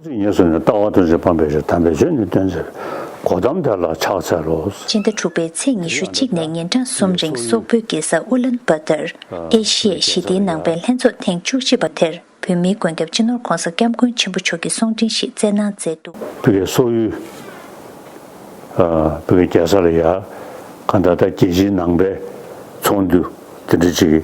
ཚིག་ངེས་སུ་ནི་ལྟ་བ་དང་རྗེས་དཔག་པའི་རིགས་དམ་པའི་ཆོས་ནི་སྟོན་ཟེར། གོ་དམ་དེ་ལ་ཕྱག་འཚལ་ལོ། སྤྱི་ཟླ་དྲུག་པའི་ཚེས་ཉི་ཤུ་གཅིག་ནས་ཉིན་གྲངས་གསུམ་རིང་སོག་པོའི་རྒྱལ་ས་ཨུ་ལན་པ་ཏར་ཨེ་ཤི་ཡའི་ཞི་བདེའི་ནང་པའི་ལྷན་ཚོགས་ཐེངས་བཅུ་གཅིག་པ་དེར་བོད་མིའི་མགོན་སྐྱབས་སྤྱི་ནོར ྋགོང་ས ྋསྐྱབས་མགོན་ཆེན་པོ་མཆོག་གིས་གསུང་འཕྲིན་ཞིག་སྩལ་གནང་མཛད་འདུག། བོད་ཀྱི་སོག་ཡུལ། བོད་ཀྱི་རྒྱལ་ས་ལ་ཡ། ག་ད་ལྟ་རྒྱལ་སྤྱིའི་ནང་པའི་ཚོགས་འདུ་དེ་འདྲ་ཅིག།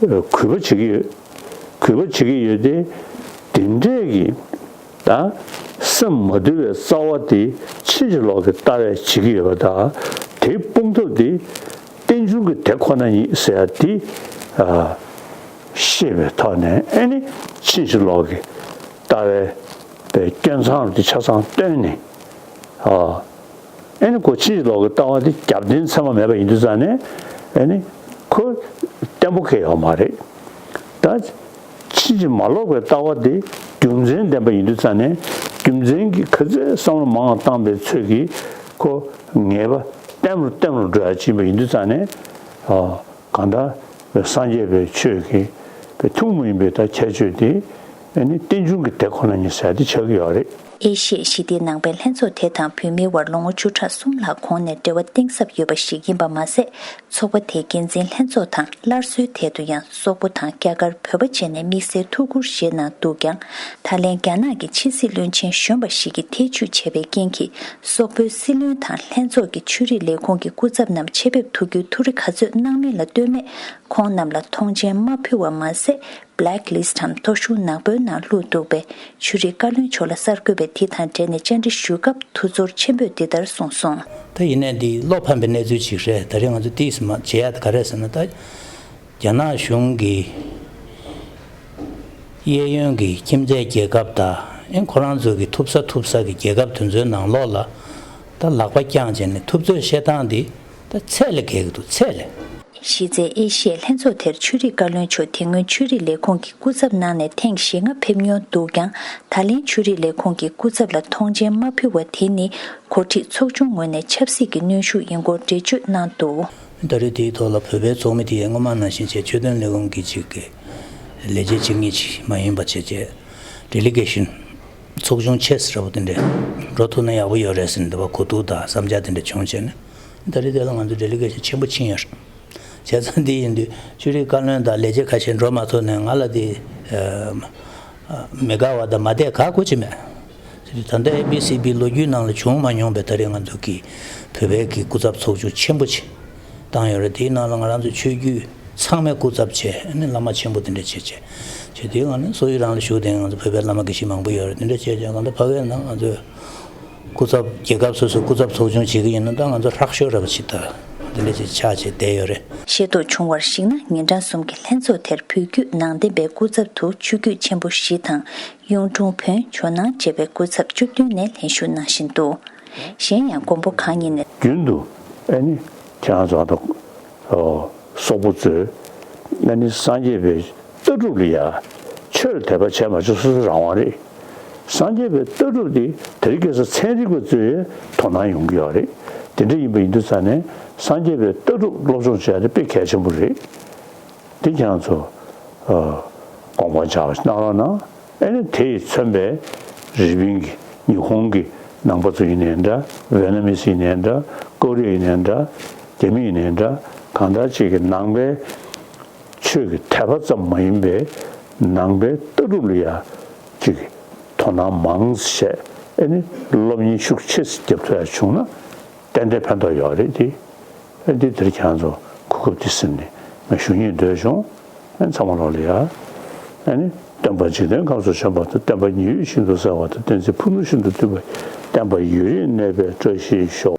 གུས་པ་བྱེད་ཀྱི་ཡོད། གུས་པ་བྱེད་ཀྱི་ཡོད་དེ། དེ་འདྲས་ཀྱི། ད། སེམས་མ་དུལ་བའི་རྩ་བ་དེ་ཕྱིན་ཅི་ལོག་གི་ལྟ་བས་བྱེད་ཀྱི་ཡོད་པ་དང། དེ་སྤོང་ཐབས་དེ། རྟེན་འབྱུང་གི་དེ་ཁོ་ན་ཉིད་ཟེར་ཡ་དེ། ཤེས་པའི་ཐོག་ནས་ནི་ཕྱིན་ཅི་ལོག་གི་ལྟ་བའི། སྐྱོན་མཚང་དེ་ཆ་ཚང་བཏོན་ནས། ཨེ་ནི་ཁོ་ཕྱི་ཡི་ལོག་གི་ལྟ་བ་འདི་རྒྱབ་རྟེན་ཚད་མ་མེད་པ་ཡིན་དུས་ཙང་ནས་ཨེ་ནི་ཁོ་བརྟན་པོ་ཁེལ་ཡོད་པ་མ་རེད། ད་ཕྱི་ཡི་མ་ལོག་པའི་ལྟ་བ་འདི་རྒྱུ་མཚན་ལྡན་པ་ཡིན་དུས་ཙང་ནས་རྒྱུ་མཚན་གྱི་ཁ་ཟས་བསམ་བློ་མང་བཏང་པའི་ཚོད་ཀྱིས་ཁོ་ངེས་པ་བརྟན་པོར་བརྟན་པོར་འགྲོ་ཡག་ཅིག་ཡིན་པ་ཡིན་དུས་ཙང་ནས། གང་དག་པའི་སངས་རྒྱས་པའི་ཆོས་ཀྱི་པའི་ཐུགས་མ་ཡིན་པའི་དག་ཁྱད་ཆོས་དེ་ནི་རྟེན་འབྱུང་གི་དེ་ཁོ་ན་ཉིད་ཟད་དེ་ཆགས་ཀྱི་ཡོད་རེད། ཨེ་ཤི་ཡའི་ཞི་བདེའི་ནང་པའི་ལྷན་ཚོགས་དེ་དང་བོད་མིའི་དབར་ལོ་ངོ་བཅུ་ཕྲག་གསུམ་ལྷག་གོང་ནས་འབྲེལ་བ་གཏིང་ཟབ་ཡོད་པ་ཞིག་ཡིན་པ་མ་ཟད་ཚོགས་པ་དེའི་འགན་འཛིན་ལྷན་ཚོགས་དང་སླར་གསོའི་ཐད་དུ་ཡང་སོག་པོ་དང་རྒྱ་གར་བོད་པ་བཅས་ནས་དམིགས་བསལ་ཐུགས་ཁུར་བཞེས་གནང་འདུག་ཀྱང་ད་ལན་རྒྱ་ནག་གི་ཕྱི་སྲིད་བློན་ཆེན་གཞོན་པ་ཞིག་གིས་ཐེ་བྱུས་བྱས་པའི་རྐྱེན་གྱིས་སོག་པོའི་སྲིད་བློན་དང་ལྷན་ཚོགས་ཀྱི་ཆོས་རིག་ལས་ཁུངས་ཀྱི་སྐུ་ཚབ་རྣམས་ཆེད་ཕེབས་ཐུག་རྒྱུའི་ཐུགས་རེ་ག་ཚོད་གནང་མིན་ལ་ལྟོས་མེད་ཁོང་རྣམས་ལ་ཐོངས་མཆན་མ་ཕུལ་བ་མ་ཟད Black List འམ་ཐོ་གཞུང་ནག་པོའི་ནང་ལྷུག་འདུག་པས་ཆོས་རིག་བཀའ་བློན་མཆོག་ལ་གསར་འགོད་པས་དེ་དང་འབྲེལ་ནས་བཅར་འདྲི་ཞུས་སྐབས་ཐུགས་ཚོར་ཆེན་པོས་འདི་ལྟར་གསུངས་སོང། ད་ཡིན་ན་འདི་བློ་ཕམ་པའི་གནས་ཚུལ་ཞིག་རེད་ད་རེས་ང་ཚོ་དེའི་ཟིན་མ་བྱེད་ཡ་ད་ག་རེ་ཟེར་ན་ད། རྒྱ་ནག་གཞུང་གིས་གཡས་གཡོན་གྱི་ཁྱིམ་མཚེས་རྒྱལ་ཁབ་དང་ཁོ་རང་ཚོ་གི་ཐུབ་ས་ཐུབ་ས་ཀྱི་རྒྱལ་ཁབ་དེ་ཚོའི་ནང་ལོགས་ལ་ད་ལག་པ་རྐྱང་བྱས་ནས་ཐུབ་ཚོད་བཤད་སྟངས་འདི་ད་ཚད་ལས་བརྒལ་གི་འདུག་ཚད་ལས། གཞི་རྩའི་ཨེ་ཤི་ཡའི་ལྷན་ཚོགས་དེར་ཆོས་རིག་བཀའ་བློན་མཆོག་དེ་སྔོན་ཆོས་རིག་ལས་ཁུངས་ཀྱི་སྐུ་ཚབ་གནང་ནས་ཐེངས་ཞེ་ལྔ་ཕེབས་མྱོང་འདུག་ཀྱང་ད་ལན་ཆོས་རིག་ལས་ཁུངས་ཀྱི་སྐུ་ཚབ་ལ་མཐོང་མཆན་མ་ཕུལ་བ་དེ་ནི་གོ་སྒྲིག་ཚོགས་ཆུང་ངོས་ནས་ཆབ་སྲིད་ཀྱི་གནོན་ཤུགས་ཡིན་སྐོར་འགྲེལ་བརྗོད་གནང་འདུག། བརྡ་རིས་དེའི་ཐོག་ལ་བོད་པའི་ཚོགས་མི་དེ་ཡིས་སྔོན་མ་ནང་བཞིན་བྱས་ཆོས་དོན་ལས་ཁུངས་ཀྱི་གཅིག་གི་ལས་བྱེད་གཅིག་གཉིས་ཀྱིས་མ་ཡིན་པ་བྱས་རྗེས Delegation ཚོགས་ཆུང Chess ར་བོ་དེ་འདྲས་འགྲོ་ཐུབ་ན་ཡག་པོ་ཡོད་རེད་ཟེར་འདི་བ་གོ་ཐུག་དང་བསམ་འཆར་དེ་འདྲས་བྱུང་བྱས་ནས་བརྡ་རིས་དེ་ལ་ང་ཚོས Delegation ཆེན་པོ་ཕྱིན་ཡོད་རེད། བྱས་ཙང་དེ་ཡིན་དུས་ཆོས་རིག་བཀའ་བློན་དང་ལས་བྱེད་ཁ་ཤས་འགྲོ་མ་ཐུབ་ནས་ང་ལ་དེ་མི་དགའ་བ་དང་མ་བསྡད་ག་དགོས་ཀྱི་མེད། ད་ལྟ ABCB ལོ་རྒྱུས་ནང་ལ་བྱུང་མ་མྱོང་པའི་ད་རེས་ང་ཚོ་གི་བོད་པའི་གི་སྐུ་ཚབ་ཚོགས་ཆུང་ཆེན་པོ་ཆེ་བཏང་ཡོད་རེད་དེའི་ནང་ལ་ང་རང་ཚོའི་ཆོས་བརྒྱུད་ཚང་མའི་སྐུ་ཚབ་བཅས་ནི་བླ་མ་ཆེན་པོ་དེ་འདྲ་བཅས་བཅས་བཅས་དེའི་ནང་ནས་སོ་ཡི་རང་ལ་བཞུགས་དེ་ང་ཚོ་བོད་པའི་བླ་མ་དགེ་བཤེས་མང་པོ་ཡོད་རེད་དེ་འདྲ་བཅས་བཅས་གང་ལྟར་ཕ་གའི་ནང་ང་ཚོའི་སྐུ་ཚབ་རྒྱལ་ཁབ་སོ་སོའི་སྐུ་ཚབ་ཚོགས་ཆུང་བྱེད་ཀྱི་ཡིན་ན་ད་ང་ཚོ་ཧྲག་ཤོས་རེད་པ་ཆི་ད་དེ་འདྲ་བཅས་ཆགས་བཅས་བསྡད་ཡོད་རེད། ཤེས་རྟོགས་བྱུང་བར་གཞིགས་ན་ཉིན་གྲངས་གསུམ་གྱི་ལྷན་ཚོགས་དེར་བོད་བརྒྱུད་ནང་བསྟན་པའི་སྐུ་ཚབ་དུ་ཆོས་བརྒྱུད་ཆེན་པོ་བཞི་དང་གཡུང་དྲུང་བོན་ཇོ་ནང་བཅས་པའི་སྐུ་ཚབ་བཅུ་བདུན་ནས་ལྷན་ཞུགས་གནང་བཞིན་འདུག་གཞན་ཡང་མགོན་པོ་གང་ཉིད་ནས། རྒྱུན་དུ་ཨེ་ནི་ཁྱེད་རང་ཚོ་དང། སོག་པོ་ཚོས་ཨེ་ནི་སངས་རྒྱས་པའི་ལྟ་གྲུབ་ལ་ཡ། ཆོས་དད་པ་བྱས་མ་བྱས་སོ་སོའི་རང་དབང་རེད། སངས་རྒྱས་པའི་ལྟ་གྲུབ་དེ་དེ་རིགས་སྐད་ས་ཚན་རིག་པ་གཙོས་ཡའི་དོ་སྣང་ཡོང་གི་ཡོད་རེད་དེ་འདྲ་ཡིན་པ་ཡིན་དུས་ཚ་ནས་སངས་རྒྱས་པའི་ལྟ་གྲུབ་སློབ་སྦྱོང་བྱས་ཏེ་དཔེ་གལ་ཆེན་པོ་རེད། འདི་རྒྱ་མཚོ། དགོངས་པ་འཇགས་གནང་རོགས་གནང། ཨེ་ནི་དེ་ཡི་མཚོན་པའི་རི་པིན་གྱི་ཉི་ཧོང་གི་ནང་པ་ཚོ་ཡིན་ནའི་འདྲ་ཝེ་ན་མི་སི་ཡིན་ནའི་འདྲ་ཀོ་རི་ཡ་ཡིན་ནའི་འདྲ་རྒྱ་མི་ཡིན་ནའི་འདྲ་གང་འདྲ་ཅིག་གི་ནང་པའི་ཆོས་ཀྱི་དད་པ་ཙམ་མ་ཡིན་པའི་ནང་པའི་ལྟ་གྲུབ་ལ་ཡ་ཅིག་གི་དོ་སྣང་མང་བྱས་ཨེ་ནི་སློབ་གཉེར་ཤུགས་ཆེ་བརྒྱབ་ཐུབ་ཡ་བྱུང་ན་ཏན་ཏན་ཕན་ཐོགས་ཡོད་རེད་དེ། ཨེ་འདི་འདིར་ཁྱང་ཚོ་གོ་སྐབས་འདི་སེམས་ནས་ང་ཞུ་སྙིང་འདོད་བྱུང། ཨེ་ཚང་མ་ལོག་ལེ་ཡ། ཨེ་ནི་སྟོན་པ་འཇིག་རྟེན་ཁམས་སུ་བྱོན་པ་དང་བསྟན་པ་ཉི་འོད་ཤིན་ཏུ་གསལ་བ་དང་བསྟན་འཛིན་ཕུ་ནུ་ཤིན་ཏུ་བསྟུད་པའི་བསྟན་པ་ཡུན་རིང་གནས་པའི་བཀྲ་ཤིས་ཤོག།